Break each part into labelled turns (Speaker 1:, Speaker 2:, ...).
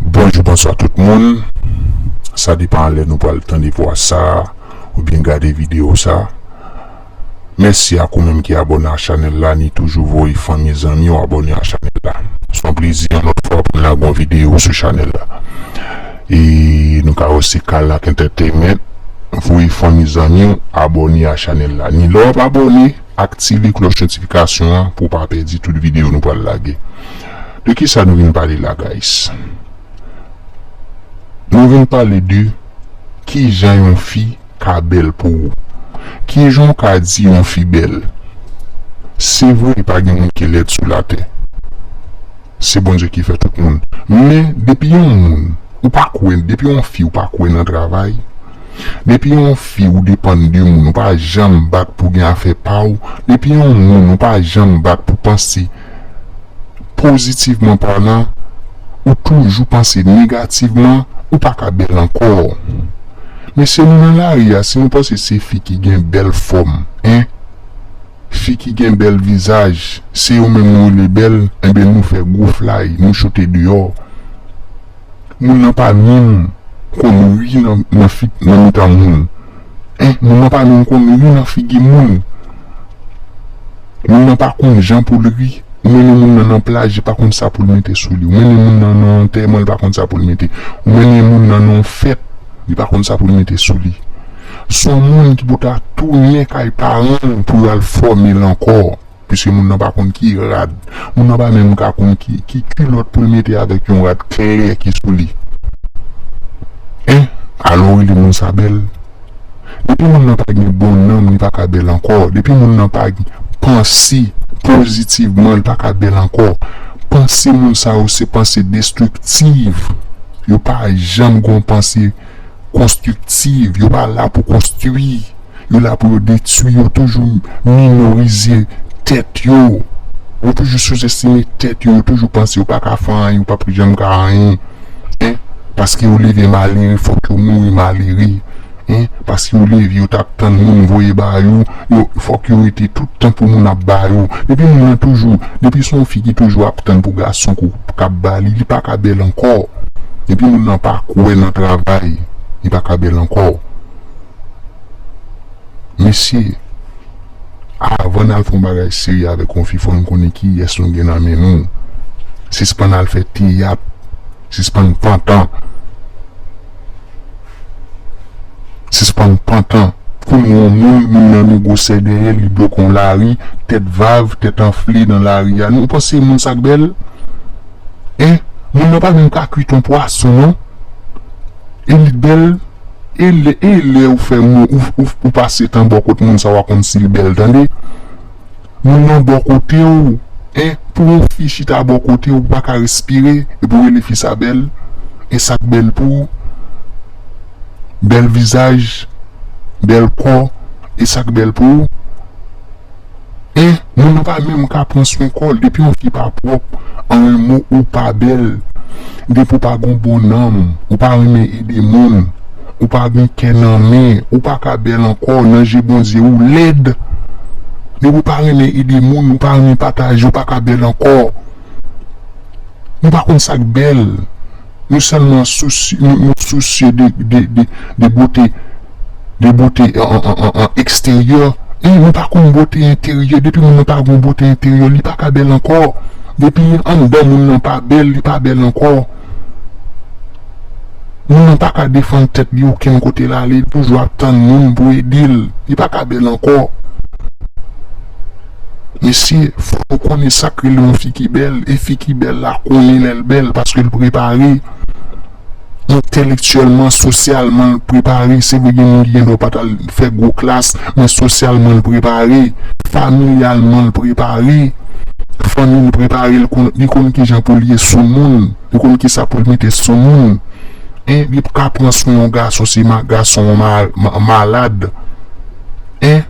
Speaker 1: Bonjou bonswa tout moun sa depan lè nou pral tande vwa sa oubyen gade video sa mèsi ak ou menm ki abòne a chanèl la ni toujou voye fanmi zanmiw abòne a chanèl la son plezi yon lòt fwa poun lage yon video sou chanèl la e nou ka wè se kalack entertainment voye fanmi zanmiw abòne a chanèl la ni lè wap abòne aktive klòch notifikasyon an pou pa pèdi tout video nou pral lage. De kisa nou vin pale la guys? Nou vin pale de kijan yon fi ka bèl pou ou. Kijan w ka di yon fi bèl? Se vre pa gen moun ki lèd sou latè. Se Bondye ki fè tout moun. Men depi yon moun ou pa kwè, depi yon fi ou pa kwè nan travay, depi yon fi ou depann de moun ou pa janm bat pou gen afè pa w, depi yon moun ou pa janm bat pou panse pozitivman palan ou toujou panse negativman ou pa ka bèl ankò mesye nou nan lari a si nou panse se fi ki gen bèl fòm en fi ki gen bèl vizaj se yo menm nou rele bèl enben nou fè gwo flay nou choute deyò moun nan pa minm konn ri nan mitan moun. Anh moun nan pa menm konn ri nan figi moun moun nan pa konn jan poul ri ou mennen moun nan nan plaj li pa konn sa poul mete sou li ou mennen moun nan nan antèman li pa konn sa poul mete ou mennen moun nan nan yon fèt li pa konn sa poul mete sou li son moun ki pou ta tounen kay paranl pou yo al fòmel ankò. Piske moun nan pa konn ki rad. Moun nan pa menm ka konn ki kilòt pou l mete avèk yon rad klè ki sou li. Hein! Alò w rele moun sa bèl? Depi moun nan pa gen bon nanm li pa ka bèl ankò. Depi moun nan pa panse pozitivman li pa ka bèl ankò. Panse moun sa yo se panse destriktiv. Yo pa janm gen yon panse. konstriktiv, yo pa la pou konstwi, yo la pou yo detwi, yo toujou minorize tèt yo, yo toujou souzestime tèt yo, yo toujou panse yo pa ka fè anyen, yo p ap janm ka anyen, paske yo leve malere fòk yo mouri malere, paske yo leve yo t ap tann moun voye ba yo. Yo fòk yo rete tout tan pou moun ap ba yo. Epi moun nan toujou, depi son fi ki toujou ap tann pou gason ko kap ba li, li pa ka bèl ankò. Depi moun nan pa kwè nan travay, li pa ka bèl ankò. Mesye, avan n al fè yon bagay serye avèk yon fi fò n konnen kiyès nou gen nan men nou. Sispann al fè teyat, sispann pantan. Sispann pantan kou nou yon moun moun nan nou gwosè dèyè li bloke yon lari tèt vav tèt anfle nan lari a nou panse moun sa k bèl en moun nan pa menm ka kwit yon pwason non e li bèl e e lè ou fè moun ou pase tan bò kot moun sa wa konn si l bèl tande. Moun nan bò kote w en pou yon fi chita bò kote w ou pa ka respire epi w rele fi sa bèl en sa k bèl pou bèl vizaj bèl kò e sa k bèl pou w en moun nan pa menm ka pran swen kò l depi yon fi pa pwòp an en mo ou pa bèl gen pou w pa gen yon bon nanm ou pa renmen ede moun. Ou pa gen kè nan men ou pa ka bèl ankò nan je Bondye ou lèd depi ou pa renmen ede moun ou pa renmen pataje ou pa ka bèl ankò nou pa konn sak bèl nou sèlman nou sousye de bote de bote eksteryè men nou pa konn bote enteryè depi moun nan pa gen bote enteryè li pa ka bèl ankò depi anndan moun nan pa bèl li pa bèl ankò. Moun nan paka defann tèt li okenn kote la li toujou ap tann moun pou edel li paka bèl ankò mesye fòk nou konnen sak rele yon fi ki bèl e fi ki bèl la konnen lèl bèl paskel prepare entèlektyèlman sosyalman l prepare se vre gen moun ki gen dwa pa tal. fè gwo klas, men sosyalman l prepare, familyalman l prepare, fanmi l prepare l, li konn kijan pou l ye sou moun, li konn kisa pou l mete sou moun, en, li pka pran swen yon gason si gason an malad, en,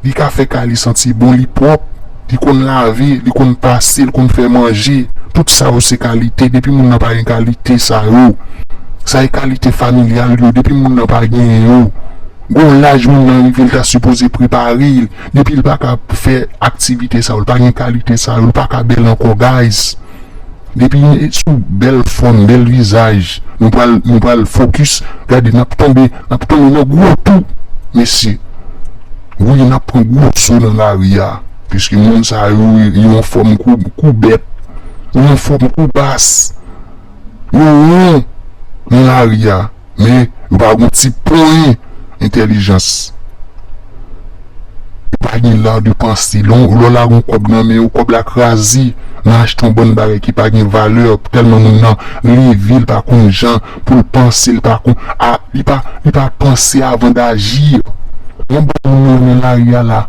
Speaker 1: li ka fè kay li santi bon, li pwòp. Li konn lave, li konn pase, li konn fè manje. Tout sa yo se kalite. Depi moun nan pa gen kalite sa yo, sa e kalite familyal yo. Depi moun nan pa gen yo, gon laj moun nan rive li ta sipoze prepare. Depi li pa ka fè aktivite sa yo, li pa gen kalite sa yo, li pa ka bèl ankò guys. Depi nou e sou bèl fòm, bèl vizaj, nou pral, nou pral fokis. Gade n ap tonbe, n ap tonbe nan gwo tou mesye. Wi nap pran gwo so nan lari a piske moun sa yo yo anfòm kou bèt, yo anfòm kou bas, yo won nan lari a men yo pa gon ti ponyen entèlijans, yo pa gen l'art de penser, lè w lage yon kòb nan men yo kòb la kraze nan achte yon bann bagay ki pa gen valè tèlman moun nan leve l pa konn jan pou l panse l pa kon a li pa li pa panse avan dajir yon bann moun yo nan lari a la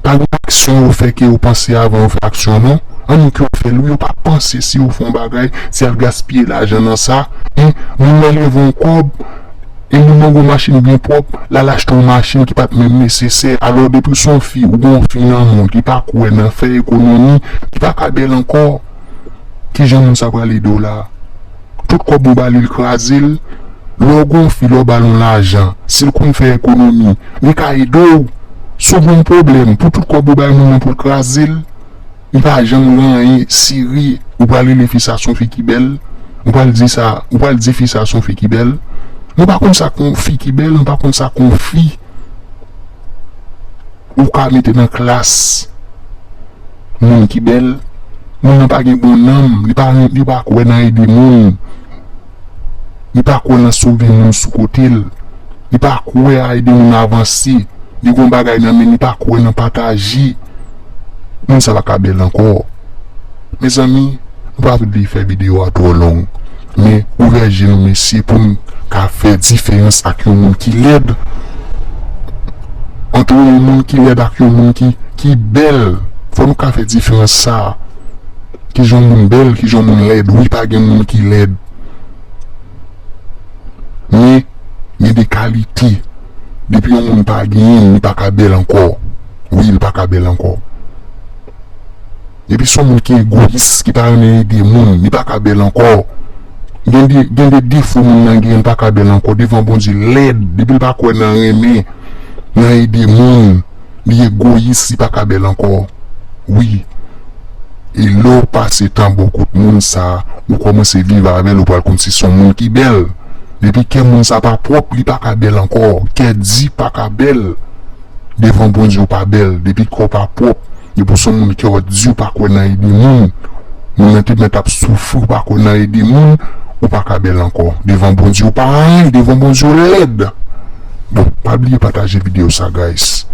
Speaker 1: pa gen aksyon yo fè ke yo panse avan yo fè aksyon non an nou ke yo fè l wi yo pa panse si yo fè yon bagay si y al gaspiye lajan nan sa en moun nan leve yon kòb en moun nan gen yon machin byen pwòp l al achte yon machin ki pa t menm nesesè alò depi w se yon fi ou gen yon fi nan menw ki pa kwè nan fè ekonomi ki pa ka bèl ankò kijan moun sa pral ede w la. Tout kòb ou ba li l kraze l. Lè w gon fi, lè w ba l yon lajan, si l konn fè ekonomi, li ka ede w. Si w gen yon pwoblèm, pou tout kòb ou bay moun nan pou l kraze l, li pa janm gen anyen seri. Ou pral rele fi sa s on fi ki bèl, ou pral di sa, ou pral di fi sa s on fi ki bèl. Mwen pa konn sa k on fi ki bèl, mwen pa konn sa k on fi. Ou ka mete nan klas moun ki bèl, moun nan pa gen bon nanm, li pa kwè nan ede moun, li pa kwè nan sove moun sou kote l, li pa kwè a ede moun avanse, li gen yon bagay nan men li pa kwè nan pataje, moun sa pa ka bèl ankò. Mezanmi nou pa vle fè video a twò long men ouvè je nou mesye pou nou ka fè diferans ak yon moun ki lèd antre yon moun ki lèd ak yon moun ki bèl fò nou ka fè diferans sa kijan yon moun bèl kijan yon moun lèd wi pa gen moun ki lèd men gen de kalite depi yon moun pa genyen li pa ka bèl ankò wi li pa ka bèl ankò. Depi son moun ki egoyis ki pa renmen ede moun li paka bèl ankò gen de defo moun nan genyen li paka bèl ankò devan Bondye lèd depil pa kwè nan renmen nan ede moun li egoyis li paka bèl ankò wi e lèw pase tan bò kot moun sa ou kòmanse viv avèl ou pral konn si son moun ki bèl depi kè moun sa pa pwòp li paka bèl ankò kè di paka bèl. Devan Bondye ou pa bèl, depi kè w pa pwòp, depi w s on moun kè w di ou pa kwè nan ede moun, moun nan te mèt ap soufri ou pa kwè nan ede moun, ou pa ka bèl ankò. Devan Bondye ou pa anyen, devan Bondye ou lèd. Bon, pa bliye pataje videyo sa guys.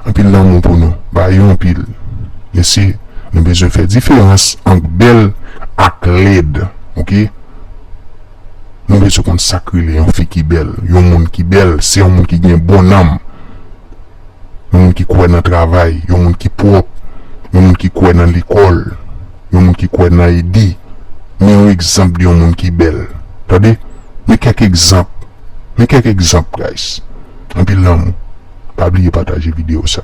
Speaker 1: Anpil lanmou pou nou. Ba yo anpil. Mesye, nou bezwen fè diferans ant bèl ak lèd. Ok. Nou bezwen konn sak rele yon fi ki bèl, yon moun ki bèl se yon moun ki gen bon nanm, yon moun ki kwè nan travay, yon moun ki pwòp, yon moun ki kwè nan lekòl, yon moun ki kwè nan ede. Men yon egzanp de yon moun ki bèl tande men kèk egzanp men kèk egzanp guys anpil lanmou pa bliye pataje video sa.